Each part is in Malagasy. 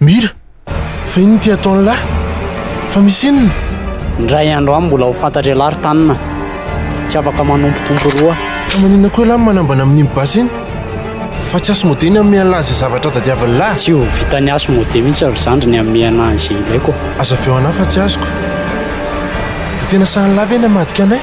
Mira, fa inona ity ataon'ny lahy? Fa misy inona? Indray andro any mbola ho fantatry ialahy ry Tanina. Tsy afaka manompotompo roa. Fa maninona koa ialahy no manambana amin'iny basy iny? Fa tsy Asmodee ny hamehan'ny lahy izay zavatra tadiavin'ny lahy. Tsy ho vitan'i Asmodee mihitsy ry zandry ny hamehana an'izay ilaiko. Aza avy eo anah fa tsy azoko. Dia tena sahin'ny lahy ve ny hamadika anay?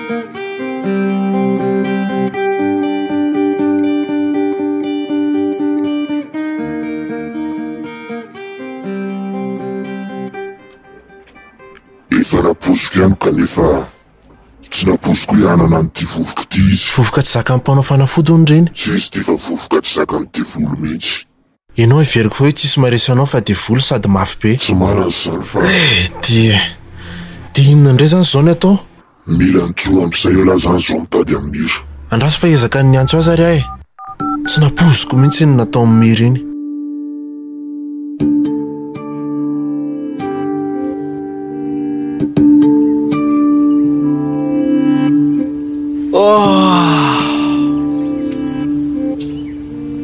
Efa raposo ihany kanefa tsy raposo koa ihanana an'ity vovoka ity izy. Vovoka tsy zakan'ny mpanao fanafody hono ireny. Tsy izy ity fa vovoka tsy zakan'ny devoly mihitsy. Ianao heveriko fa hoe tsisy maharesy anao fa devoly sady mafy be. Tsy malaza izany fa. Eh dia. Dia inona indray izany izao ny atao? Mila nijoro ampy izay ela izany izao ny tady amin'i Mira. Andraso fa hiezaka ny niantso azy ary aho e. Tsy nampoiziko mihitsy iny nataon'i Mira iny. Oh!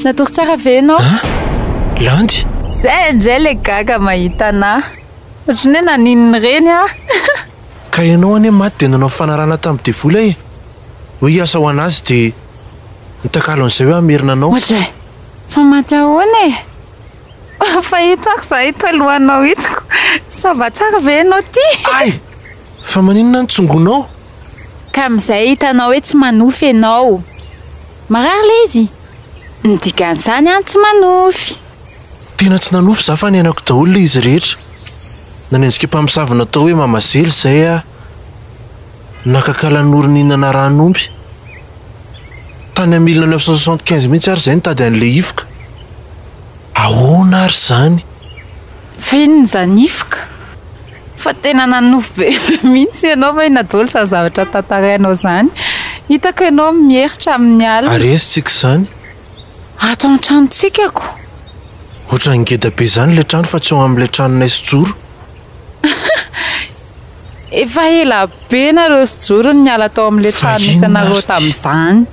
Natory tsara ve ianao? An? Landy? Zay indray le gaga mahita anah. Ohatran'ny hoe naninona ireny aho. Ka ianao anie maty dia nanao fanarahana tamin'ny devoly e! Hoe hiasa ho an'azy dia nitakalo an'izay hoe hamerina anao. Oadray! Fa maty ahoana e? Fa ito aho zah ito alohanao ito ko! Ça va tsara ve ianao ty? Ay! Fa maninona ny tsongonao? Ka amin'izay hitanao hoe tsy manofy ianao. Marary le izy? Ny dikan'izany an tsy manofy. Tena tsy nanofy za fa niainako daholo le izy rehetra. Nanenjika mpamosavy natao hoe mama zely zay ah. Nakakala noro nihinana rano ompy. Tany am mille neuf cent soixante quinze mihitsy ary zay nitady anle hifoka. Ahoana ary zany? Fa inona izany hifoka? Fa tena nanonofy be mihitsy ianao va i Nadolo izany zavatra tantarainao izany? Hitako ianao mieritra amin'ny alina. Ary aiza isika izany? Ato amin'ny tranontsika ko. Ohatran'ny ngeda be izany ilay trano fa tsy eo amin'ilay tranonay sy Joro. Efa ela be nareo sy Joro no niala tao amin'ilay trano nisy anareo tamin'izany.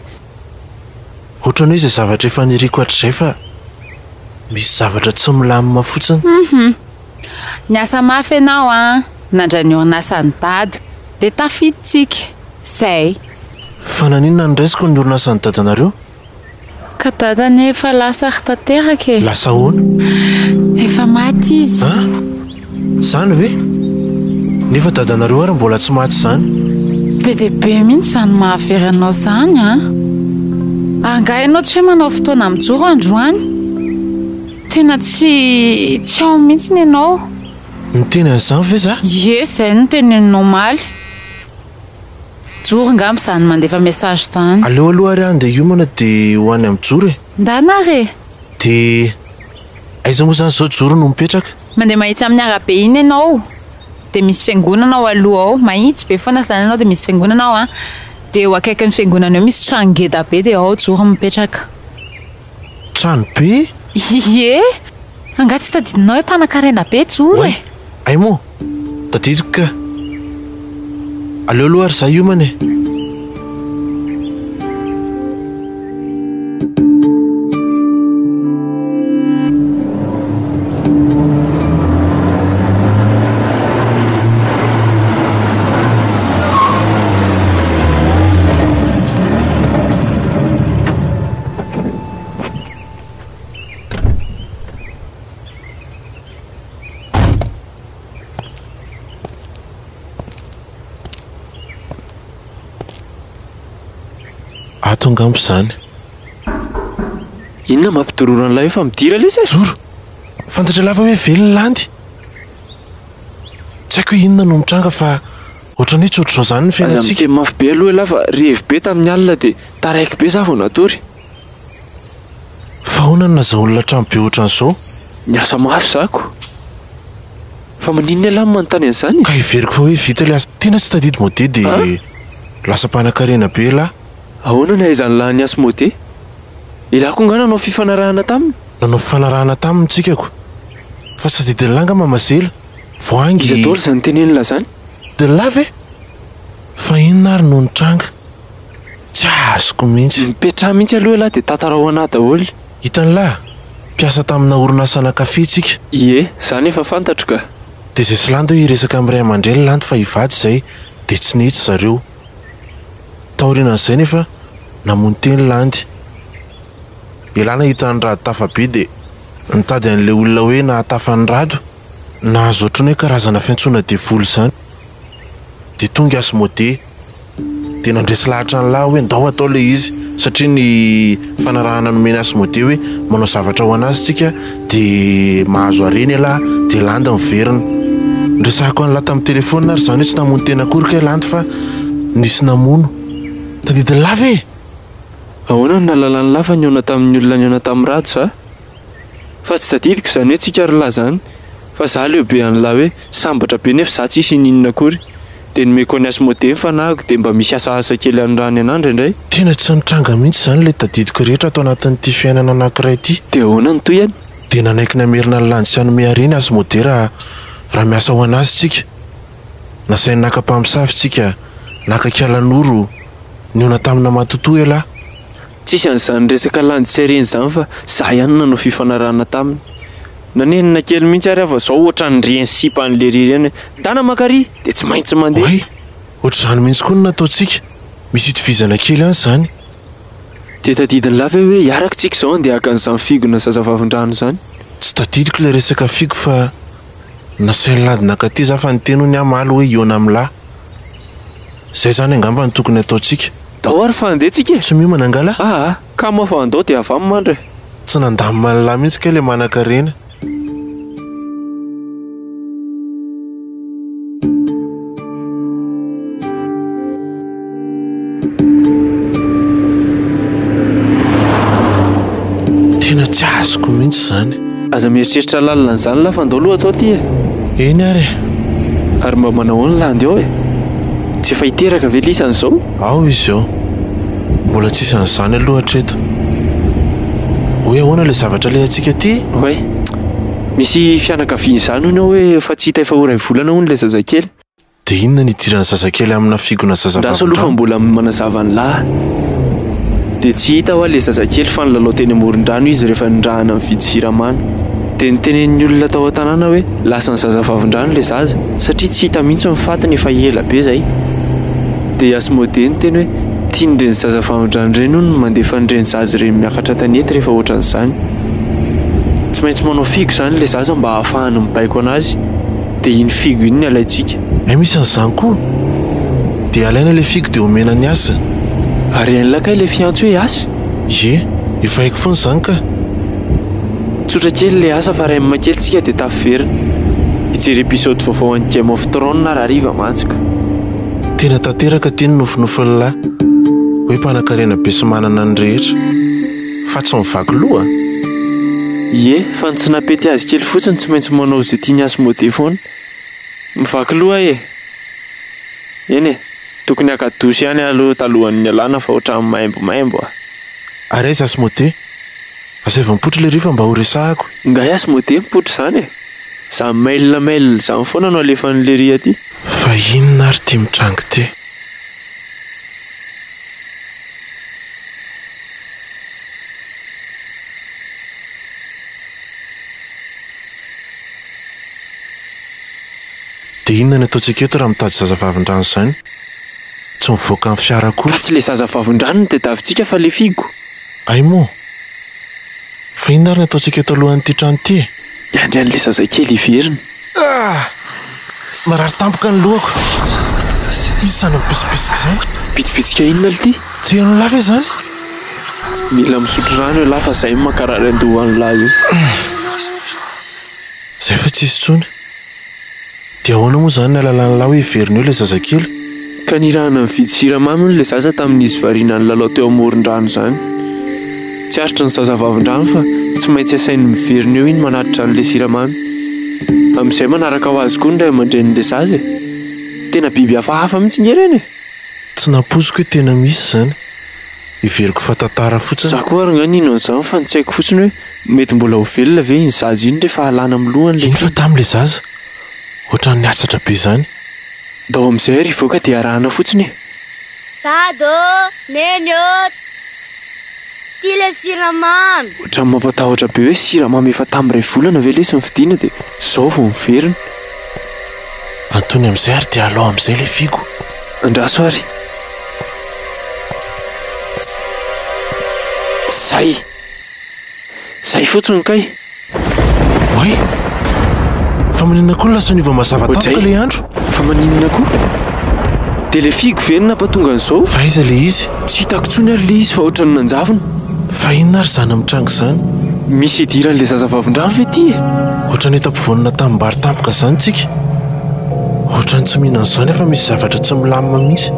Ohatran'ny hoe izay zavatra efa niriko hatrizay fa misy zavatra tsy milamina fotsiny. Niasa mafy ianao a! Nandray ny orinasan'i Dada dia tafiditsika. Zay. Fa naninona no raisiko ny orinasan'i Dadanareo? Ka Dada anie efa lasa ry tanteraka e! Lasa ahoana? Efa maty izy. An? Izany ve? Nefa Dadanareo ary mbola tsy maty izany. Be dia be mihitsy izany mahavery anao izany an! Angaha ianao tsy hoe manao fotoana mijoro androany? Tena tsy tsy ao mihitsy ny anao. Niteny an'izany ve za? Ie zay no teneninao omaly. Joro nga am zany mandefa message zany. Aleo aloha ary aho handeha hiomana dia ho any amin'i Joro e. Ndana ary e. Dia aiza moa izany izao Joro no mipetraka? Mandeha mahitsy amin'ny arabe iny ianao dia misy fiangonana ao aloha ao, mahitsy be foana izany ianao dia misy fiangonana ao an, dia eo akaikin'ny fiangonana eo misy trano ngeda be dia ao Joro mipetraka. Trano be? Ie! Angaha tsy tadidinao hoe mpanankarena be Joro e? Hay moa! Tadidiko kah! Aleo aloha ary izaho hiomana e! Ato angamba izany. Inona mampidororo an'ilay hoe fa midira lesy e? Zoro, fantatra lava hoe velona landy. Tsy haiko hoe inona no mitranga fa. Ohatran'ny hoe tsy ohatr'izao izany ny Aza fiainantsika. miteny mafy be aloha ialahy fa revy be tamin'ny alina dia taraiky be za vao natory. Fa ahoana no nazahoan'ny olona trano be ohatran'izao? Niasa mafy za ko. Fa maninona ialahy no manontany an'izany e? Ka heveriko fa hoe vita ilay asa. Tena tsy tadidy mode dia An? lasa mpanakarena be ialahy. Ahoana ny ahaizan'ny lahy ny asa mode? Ialahy koa nga nanao fifanarahana taminy? Nanao fifanarahana taminy ny tsikako. Fa tsy tadidin'lah nga mama zela. Voahangy. Iza daholo izany teny enina izany? De la ve? Fa inona ary no nitranga? Tsy azoko mihitsy. Mipetraha mihitsy aloha elah dia tantarao anah daholo. Hitanlah, mpiasa tamina orinasana kafe tsika. Ie, za nefa fantatro ka. De zay tsy lanto hiresaka amin'ny ray aman-dreny lanto fa hivady izay de tsy nety zareo. Taorianan'izay nefa namono teny landy. Elah nahita an'i Rado tafa be dia nitady an'ilay olona hoe nahatafa an'i Rado. Nahazo ohatran'ny hoe karazana fiantsoana devoly izany. Dia tonga azy Mode. Dia nandresy lahatra an'i Lah hoe ndao atao ilay izy satria ny fanarahana nomeny azy Mode hoe manao zavatra ho an'azy tsika dia mahazo harena elah dia Landy miverina. Niresahako an'i Lah tamin'ny telephone ary izany hoe tsy namono tena akory kay Landy fa nisy namono. Tadidin'i Lah ve? Ahoana no nahalalan'i Lafa nihaona tamin'ny olona nihaona tamin'i Rado za? Fa tsy tadidiko izany hoe tsika ry lahy izany fa za leo be an'i Lahy hoe sambatra be nefa za tsisy ininona akory dia nomeko an'i Asmodee ny fanahiko dia mba misy asaasa kely any raha any an'andra indray Tena tsy nitranga mihitsy izany ilay tadidiko rehetra ato anatin'ity fiainana anankiray ity. Dia ahoana ny tohiny? Dia nanaiky namerina ny lany tsy hanome harena Asmodee raha raha miasa ho an'azy tsika. Nasainy naka mpamosavy isika, naka kialanoro, niona tamina matotoa elah. Tsisy an'izany resaka landy sy harena izany fa za ihany no nanao fifanarahana taminy. Nanenina kely mihitsy ary aho fa zao ohatran'ireny sipa an'i Lery ireny hoe mitana maka ary dia tsy maintsy mandeha. Oay! Ohatr'izany mihitsy koa no nataontsika. Misy itovizana kely ihany izany. Dia tadidin'i Lafy aho hoe hiaraka isika izao handeha haka an'izany figona zazavavindrano izany. Tsy tadidiko ilay resaka figo fa. Nasainy lady nakaty za fa niteny hono hamaly hoe iona am la. Zay zany angamba no tokony ataontsika. Ndao ary fa handeha tsika e! Tsy miomana angaha la? Aa! Kamo fa andao dia avy am mandry e! Tsy nandamina an la mihitsy kay le manankarena. Tena tsy azoko mihitsy izany. Aza mieritreritra lalina an'izany lah fa ndao aloha atao ity e! Eny ary e! Ary mba manahoana lah andeha ao e! Tsy efa hiteraka ve Lisa an'izao? Ao izy ao. Mbola tsisy an'izany aloha hatreto. Hoe ahoana ilay zavatra alehantsika aty? Oay! Misy fianakaviana izany hono ao hoe efa tsy hita efa ho iray volana hono ilay zazakely. Dia inona ny idiran'ny zazakely amina figona zazavavy Raha Salofa mbola manazava ny lahy dia tsy hita hoa le zazakely fa nilalao teny amoron-drano izy rehefa nirahana ny vidy siramamy dia nitenen'ny olona tao an-tanàna hoe lasan'ny zazavavin-drano le zaza satria tsy hita mihitsy ny fatiny efa ela be zay dia i Asmodee niteny hoe tian'ireny zazavavin-drano ireny hono ny mandefa an'ireny zaza ireny miakatra an-tanety rehefa ohatran'izany tsy maintsy manao figo izany le zaza mba hahafahany mibaiko an'azy dia iny figo iny ny alaintsika. Ay misy an'izany koa! Dia alaina ilay figo dia omena an'i Asa. Ary hain'lah kay ilay fiantso hoe Asa? Ie, efa haiko foana izany kah! Tsotra kely ilay asa fa rem kely tsika dia tafiverina. Hijery episode vaovao an'ny Game of Thrones aho rahariva mantsy ka. Tena tanteraka ity ny nofinofin'lah hoe mpanakarena be sy manana ny rehetra. fa tsy mivaky loha? Ie, fa ny tsy napety azy kely fotsiny tsy maintsy manao izay tian'i Asmodee foana. Mivaky loha aho e! Eny e, tokony haka douche ihany aho aloha talohan'ny hialana fa ohatran'ny maimbomaimbo a! Ary aiza Asmodee? Asaivo mipoitra ilay rifa mba ho resahako. Ingahy Asmodee mipoitra izany e! Izany mail mail izany foana no alefan'i Lery aty. Fa inona ary ity mitranga ity? Dia inona no ataontsika eto raha mitady zazavavin-drano izany? Tsy mivoaka ny fiara akory. Ka tsy ilay zazavavin-drano no tadiavintsika fa ilay figo? Hay moa! Fa inona ary no ataontsika eto alohan'ity trano ity e? Hiandry an'ilay zazakely hiverina. Ah! Marary tampoka ny lohako. Iza izany mipisopisoka izany? Bitsibitsika inona ity? Tsy hainao lahy ve zany? Mila misotro rano ialahy fa zay no mankarary an-doha any lahy io. Zay fa tsisy intsony. Dia ahoana moa izany ny alalàn'ilahy ho heverin'eo ilay zazakely? Ka nirahana nividy siramamy hono ilay zaza tamin'izy variana nilalao teo amoron-drano izany. Tsy aritry ny zaza vavin-drano fa tsy maintsy asainy miverina eo iny manatitra an'ilay siramamy. Amin'izay manaraka ho azy koa ny ray aman-drenin'ilay zaza e! Tena biby hafahafa mihitsy nge ireny e! Tsy nampoiziko hoe tena misy izany. Heveriko fa tantara fotsiny. Za koa ary nga nino an'izany fa ny tsy haiko fotsiny hoe mety mbola ho velona ve iny zaza iny rehefa alana amin'ny lohany le. Iny fa tamin'ilay zaza ohatran'ny niatsatra be izany. Ndao amin'izay ary hivoaka dia arahana fotsiny e! Dada ô! Neny ô! Ty le siramamy! Ohatran'ny mampatahotra be hoe siramamy efa tamin'ny iray volana ve lesy ny fidiana dia izao vao miverina. Antony amin'izay ary dia alao amin'izay le figo. Andraso ary. Zay! Zay fotsiny kay! Oay! Fa maninona koa no lasa niova mazava tampoka ilay andro? Fa maninona koa? Dia ilay fihiako ve no nampatonga an'izao? Fa aiza ilay izy? Tsy hitako intsony ary ilay izy fa ohatran'ny nanjavona. Fa inona ary izany mitranga izany? Misy idiran'ilay zazavavindrano ve ity e? Ohatran'ny efa mpivaonona tanim-bary tampoka izany isika. Ohatran'ny tsy mihinana izany afa-misy zavatra tsy milamina mihitsy.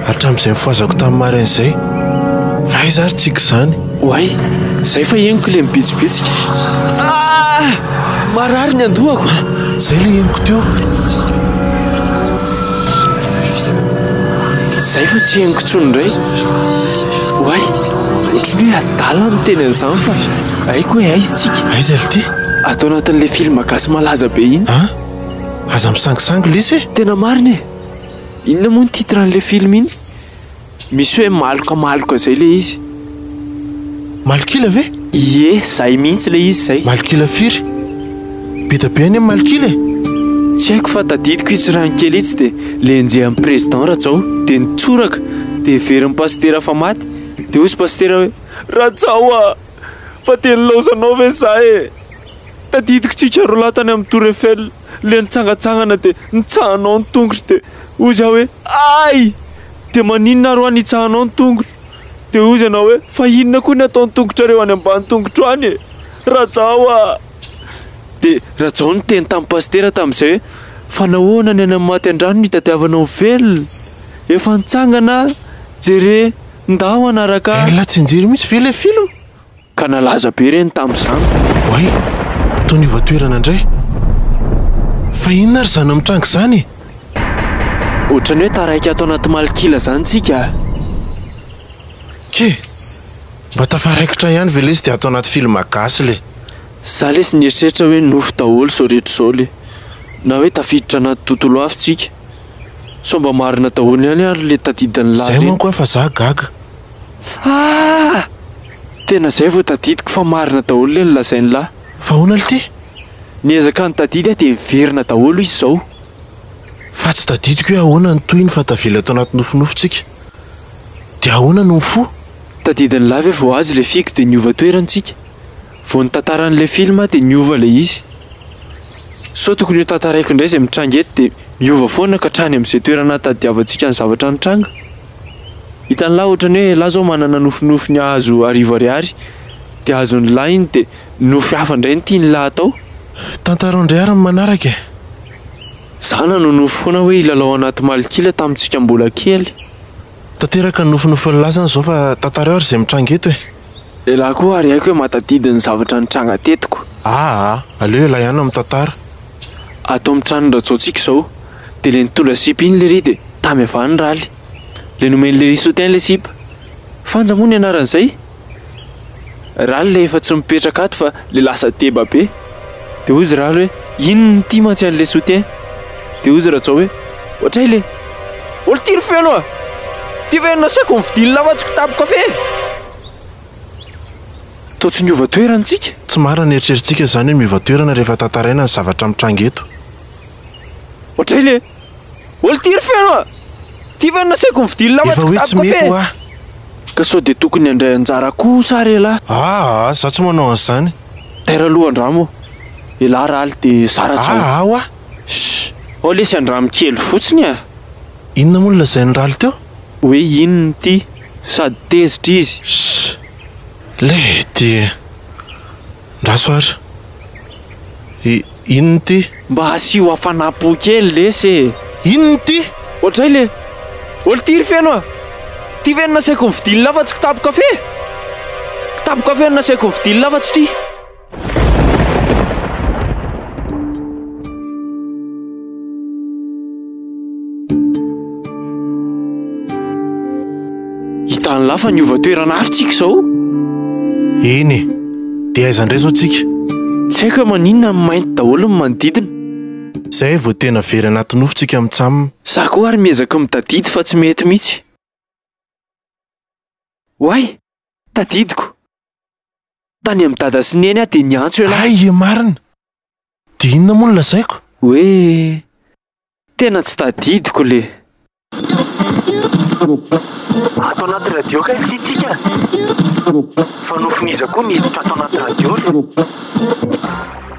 hatramin'izay nifohazako tamin'ny marin izay. Fa aiza ary tsiky izany? Oay! Izay fa henoko ilay mibitsibitsika. Ah! Marary ny andohako! Izay ilay henoko teo. Izay fa tsy henoko intsony indray. Oay! Ohatry ny hoe adala ny miteny an'izany fa haiko hoe aiza itsika. Aiza ry ty? Ato anatin'ilay film gasy malaza be iny. An! Aza misangisangy lesy e! Tena marina e! Inona moa ny titre an'ilay film iny? Misy hoe maloka maloka zay ilay izy. Malok'ila ve? Ie, zay mihitsy ilay izy zay. Malok'ila firy? Be dia be anie ny malok'ila e! Tsy haiko fa tadidiko itsy raha ny kely itsy dia lenjehan'ny président Rajao dia nitsoraka dia heverin'ny pasitera fa maty dia hozy pasitera hoe Rajao a! Fa dia nilaozanao ve za e! Tadidiko tsika roalahy tany amin'ny tour Eiffel. le nitsangatsangana de nitsahanao ny tongotro de hoy za hoe ay! de maninona ary hoa nitsahanao ny tongotro? de hoy zanao hoe fa inona koa ny ataon'ny tongotrareo any ambany tongotro any e! Rajao a! de Rajao niteny tamin'ny pasitera tamin'izay hoe fa nahoana ny any amin'ny maty an-drano no hitadiavanao ny velona? efa nitsangana a! jere ndao hanaraka ahy! Elah tsy nijery mihitsy ve ilay film? Ka nalaza be ireny tamin'izany. Oay! Toa niova toerana indray. Fa inona ary izany mitranga izany e? Ohatran'ny hoe taraiky ato anaty malok'ila izany tsika. Kee! Mba tafaraikitra ihany ve lesy dia ato anaty film gasy le? Za lesy nieritreritra hoe nofy daholo izao rehetra izao le. Na hoe tafiditra anaty tontolo hafa tsika. Sao mba marina daholo ihany ary le tadidin'ny la reto. Zay manko aho fa za gaga. Ah! Tena zay vao tadidiko fa marina daholo le nolazain'i la. Fa ahoana lty? Niezaka nitadidy aho dia niverina daholo izy zao. Fa tsy tadidiko hoe ahoana ny tohiny fa tavela eto anaty nofinofitsika. Dia ahoana no mifoha? Tadidin'i la ve vao azy le fiko dia niova toerana tsika? Vao ny tantaran'ny le film aho dia niova le izy. Sao tokony ho tantaraiko indray zay mitranga eto dia miova foana ka hatrany amin'izay toerana ahatadidiavantsika ny zavatra nitranga? Hitan'lah otrany hoe lah zao manana nofinofy ny ahazo arivo ariary de azon'ny lah iny de nofy hafa ndray ny tian'ny lah atao. Tantarao ndray ary ny manaraka e! Za nanonofy foana hoe hilalao anaty malikila tamintsika mbola kely. Tanteraka ny nofinofin'ny lah zany zao fa tantarao ary izay mitranga eto e! Ilay lah koa ary aiko hoe mahatadidy ny zavatra nitranga tetiko. Aa! Aleo ialahy ihany no mitantara. Ato amin'ny tranon'i Rajaontsika izao dia le nitondra sipa iny lery dia tamy avy any raly. Le nomeny lery soutien le sipa. Fanja moa ny anaran'izay. Raly le efa tsy mipetraka ato fa le lasa deba be. Dia hozy raly hoe iny nitia mantsy an'le soutien. Dia hozy Rajao hoe ohatray le olon-tiry feno a! Ty ve no nasiako ny vidian'ny lavatsiko tapo kafe? Toa tsy niova toerana isika? Tsy marina ny eritreritsika izany hoe miova toerana rehefa tantaraina ny zavatra mitranga eto. Ohatray le ol tiry feno a! Ty ve no nasaiko nividy lamba tsy kitapo kafe? Ka sao dia tokony handray anjara koa sa re lah? Aa za tsy manao an'izany. Taira aloha andramo elah raly de zara zao. Aa hoa. Shh! Ao lesy andramo kely fotsiny a! Inona moa no lazain'i raly teo? Hoe inona ity? sady tezitra izy. Shh! Le ty e! Ndraso ary! I, inona ity? Mba asio hafanam-po kely lesy e! Inona ity? Ohatray le ol ty ry feno a! Ty ve no nasaiko nividian'la fa tsy kitapo kafe? Kitapo kafe no nasaiko nividian'la fa tsy ty! Hitan'ny lahy fa niova toerana avy tsika izao. Eny e, dia aiza indray izao tsika? Tsy haiko hoe maninona ny mainty daholo ny manodidina. Izay vao tena very anaty nofy tsika mitsam. Za koa ary miezaka mitadidy fa tsy mety mihitsy. Oay! Tadidiko! Tany amin'i Dada sy Neny aho dia niantso ialahy. Hay e marina! Dia inona moa no lazaiko? Hoe tena tsy tadidiko le. Ato anaty radio kay ity tsika fa nofin'iza koa ny hiditra ato anaty radio le.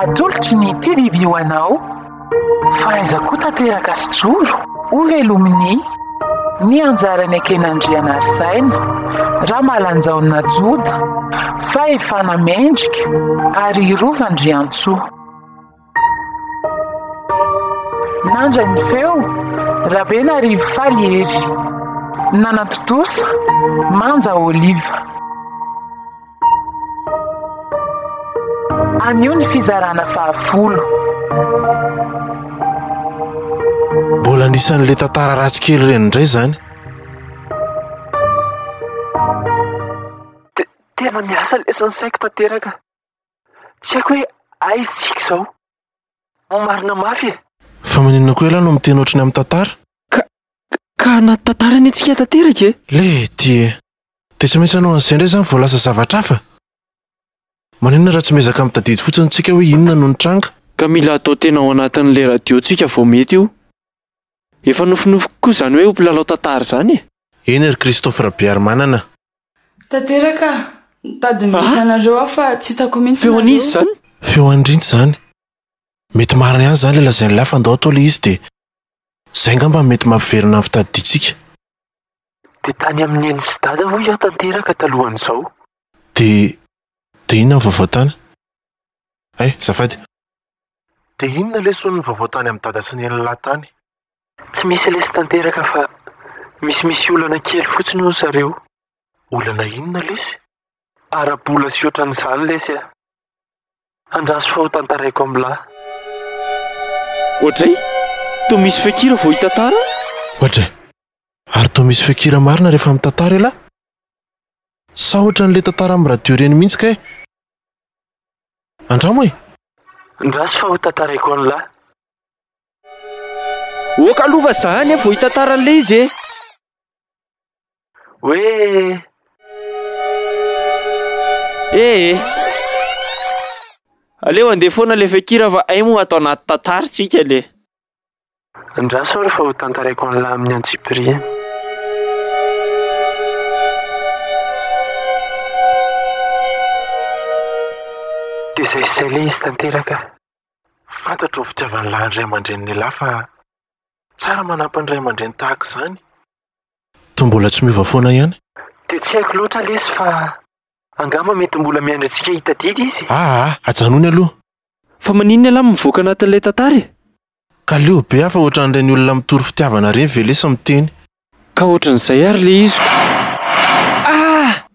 Atolotry ny TDB ho anao fa aiza koa tanteraka sy joro? Hovelomin'ny ny anjarany Ekenandrianarisaina Ramalanjaona Joda, Fahefana Mendrika ary Rova Andriantsoa. Nandra ny feo, Rabenarivo faly ery. Nanantontosa, manja oliva. Anio ny fizarana fahafolo. Mbola anisan'ilay tantara ratsy kely ireny indray izany. Tena miasa lesy ny saiko tanteraka. Tsy haiko hoe aiza isika izao. Marina mafy e! Fa maninona koa ialahy no miteny ohatry ny amin'ny tantara? Ka, ka anaty tantara anie tsika tanteraka e! Lety e! Dia tsy maintsy hanao an'izay indray izany vao lasa zavatra hafa? Maninona raha tsy miezaka mitadidy fotsiny tsika hoe inona no nitranga? Ka mila atao tena ao anatin'ilay radio tsika vao mety io. Efa nofinofiko koa izany hoe ho mpilalao tantara izany e! Eny ry Christophe Rabearimanana. Tanteraka aho. Nitady ny message nareo aho fa tsy hitako mihitsy nareo. Feon'iza izany? Feo an'i Rinty izany. Mety marina ihany izany ilay lazain'i Lahy fa ndao atao ilay izy dia izay angamba no mety mampiverina ny fitadidiantsika. Dia tany amin'ny neny sy dada hoy aho tanteraka talohan'izao. Dia dia inona ny vaovao tany? Eh! Zafady. Dia inona lesson ny vaovao tany amin'i Dada sy Nella tany? Tsy misy lesy tanteraka fa misy misy olana kely fotsiny hono zareo. Olana inona lesy? Ara-bola sy otran'izany lesy a! Andraso fa ho tantaraiko amla. Oadray! Toa misy feokira vao hitantara? Oadray! Ary toa misy feokira marina rehefa mitantara elah? Sa ohatran'le tantara amin'ny radio ireny mihitsy kay? Andramo e! Andraso fa ho tantaraiko an'lah. Ok aloha fa zany e vao hitantara an'ilay izy e! Hoe. Eh eh. Aleo andeha foana ilay feon-kira fa hay moa ato anaty tantara tsika le. Andraso ary fa ho tantaraiko an'lah amin'ny antsipiriany. Dia izay sy izay le izy tanteraka. Fantatro ny fitiavan'ny lahy ny ray aman-drenin'ilah fa tsara manampy ny ray aman-dreny tahaka izany. Toa mbola tsy miova foana ihany. Dia tsy haiko loatra lesy fa. Angamba mety mbola miandry antsika hitadidy izy e! Aa ajanony aloha. Fa maninona elah mivoaka anatin'ilay tantara e? Ka leo be aho fa ohatran'ireny olona mitory fitiavana ireny ve lesy miteny. Ka ohatran'izay ary le iziko. Aa!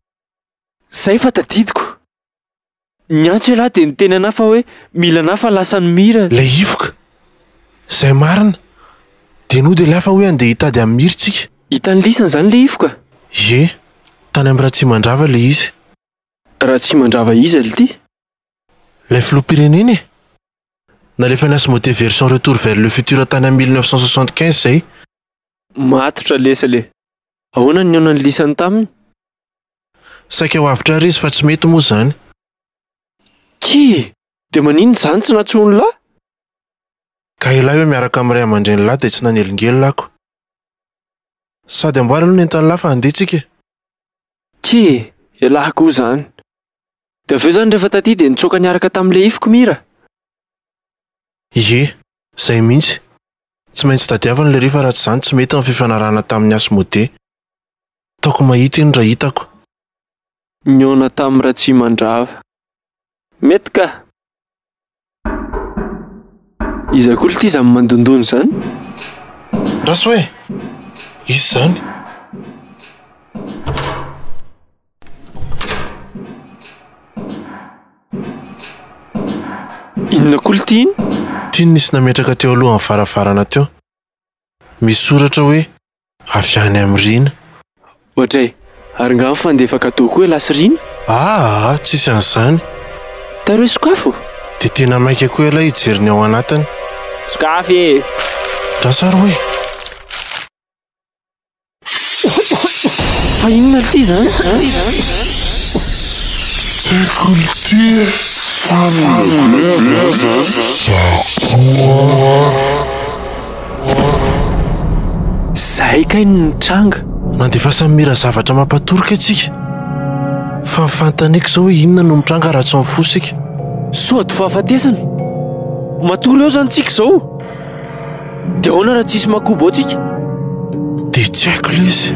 Zay fa tadidiko. Niantso elah dia niteny anah fa hoe mila anah fa lasa ny mira. Le hifoka. Zay marina. Dia nody elah fa hoe andeha hitady an'i mira tsika. Hitan'i lisany izany ilay ifo ka! Ie, tany amin'i Ratsimandrava ilay izy. Ratsimandrava iza lty? Ilay filoham-pirenena e! Nalefany asmodee version retour vers le futur tany amin'ny mille neuf cent soixante quinze izay. Matotra lesy le. Ahoana ny nihaonan'ny lisany taminy? Saika ho avotra ary izy fa tsy mety moa izany. Kee! Dia maninona izany tsy nantsoin'lah? Ka ilay hoe miaraka amin'ny ray aman-drenin'lah dia tsy nanelingelina ako. Sady amboary aloha ny entan'lah fa handeha tsika e! Tsia e! Elah koa izany! Dia avy eo izany rehefa taty dia nitsoaka niaraka tamin'ilay ifiko Mira! Ie! Izay mihitsy! Tsy maintsy tadiaviny ilay rifa raha tsy izany tsy mety ny fifanarahana tamin'i Asmodee! Taoko mahita iny raha hitako! Nihaona tamin'i Ratsimandrava! Mety kah! Iza koa ity izany mandondona izany? Rasoa e! Izy izany. Inona koa ity iny? Ity no nisy nametraka teo alohan'ny varavarana teo. Misy soratra hoe avy any amin'i Rina. Ohatra e! Ary nga mifandefa cadeau koa elah sy Rina? Aa tsisy an'izany. Taro hoe sokafo? Dia tena maika koa elah hijery ny ao anatiny. Sokafo e! Andraso ary hoe. Fa inona ity izany an? Sekultie family. Za koa. Zay kay no nitranga. Mandefa samira zavatra mampatorika antsika fa fantany eky zao hoe inona no mitranga raha tsy mifoha isika. Sody fahafatesana. Matory eo zany tsika zao. De ahoana raha tsisy makobo ao tsika? De tsy haiko lesy.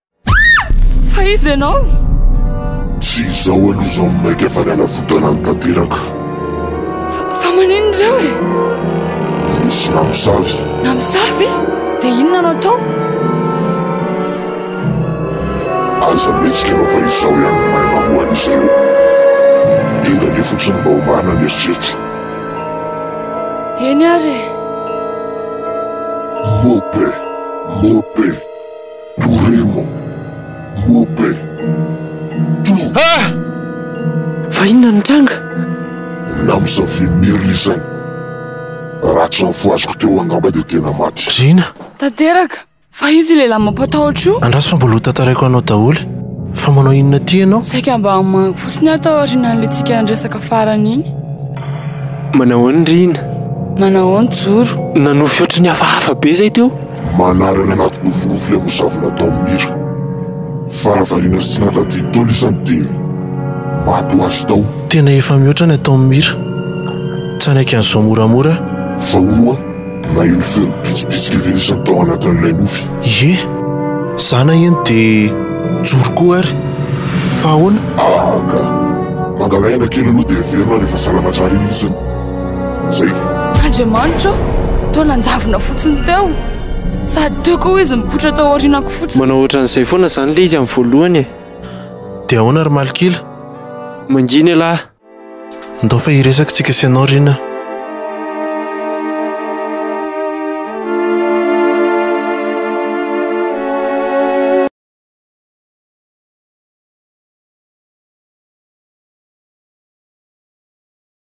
Fa iza ianao? Tsy izao aloha izao no maika fa ny anavotanany tanteraka. Fa maninona ireo e? Nisy namosavy. Namosavy? Dia inona no atao? Aza mihetsika ianao fa izaho ihany no mahay mamohana izy ireo. Enga anie fotsiny mba homahana ny eritreritro. Eny ary e. Mope! Mope! Toremo, Mobe, To. Ha! Fa inona no nitranga? Namosavia merina izany. Raha tsy ny fo azoko teo angamba dia tena maty. Rina! Tanteraka! Fa iza io lehilahy mampatahotra io? Andraso fa mbola ho tantaraiko anao daholo. Fa manao inona aty ianao? Saika mba hamangy fotsiny aho tao aorianan'ilay tsika niresaka farany iny. Manahoana Rina? Manahoana Joro? Nanofy ohatry ny hafahafa be izay teo. Manary any anaty nofinofy ilay mosavy natao amin'ny mira. Fara variana sy tsy nahatadidy tao ilay isan'ny dia maty ho azy tao. Tena efa mihoatra ny atao amin'ny mira. Tsanaiky an'izao moramora. Fa hono hoa, naheno feon'ny pitsipitsika ivelisany tao anatin'ilay nofy. Ie! Za naheno dia nijoro koa ary. Fa ahoana? Aa ka! Mangalay aina kely aloha dia heverina rehefa salama tsara iny izy an! Andriamanitra aho, toa nanjavona fotsiny teo, sady teo koa izy nipoitra tao aorianako fotsiny. Manao ohatran'izay foana izany ilay izy amin'ny voalohany e. Dia ahoana ry Malok'ila? Mangina ialahy. Ndao fa hiresaka isika sy ianao Rina.